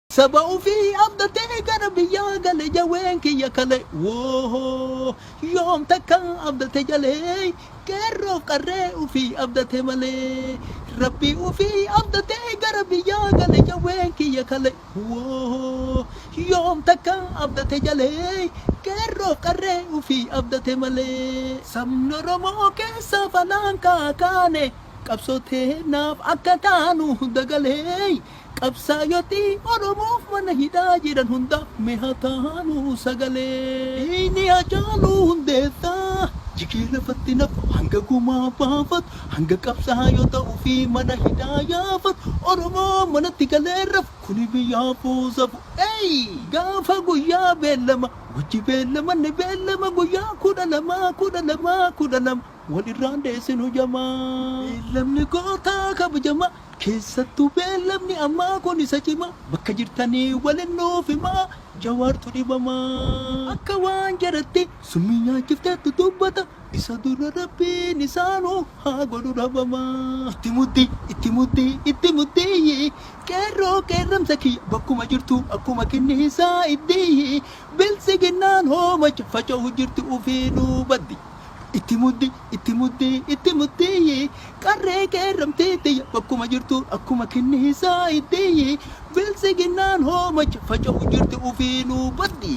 Saba ofii abdatee gara biyyaa gale jawween kiyya kale woohoo yoom takka abdate jalee qeerroof qarree ofii abdate malee rabbii ofii abdatee gara biyyaa gale jawween kiyya kale woohoo yoom takka abdate jalee qeerroof qarree ofii abdate malee. Sabni Oromoo keessaaf alaan kaakaane qabsoo teennaaf akka taanu dagalee. Qabsaayoti Oromoof mana hidhaa jiran hundaaf mee haa taanuu sagalee. Dhiigni Hacaaluu Hundeessaa jigee lafatti nafu hanga gumaa baafatu, hanga qabsaayota ofii mana hidhaa yaafatu, Oromoon manatti galee hin rafu kuni biyyaafuu safu. Eeyy! Gaafa guyyaa beellama wajji beellamanne beellama guyyaa kudha lama, kudha lama, kudha lama. Wal irraa hin dheessinu jamaa. Beellamni gootaa kabajamaa. Keessattuu beellamni ammaa kun isa cimaa. Bakka jirtanii walin nuuf himaa. Jawaartu dhibamaa. Akka waan jaratti summii nyaachifteettu dubbata. Isa dura Rabbiin isaa nu haa godhu dhabamaa. Itti muddii, itti muddii, itti muddiiyyi. Qeerroo qeerramsa kiyya bakkuma jirtu akkuma kinniisaa iddiyyi. Biltsiginnaan hoomacha faca'u jirti ufiinuu baddi. Itti muddi, itti muddi, itti muddi Qarree qeerramtee tiyya bakkuma jirtu akkuma kinniisaa itti Biltsiginnaan hoomacha faca'u jirti ufiinuu baddi.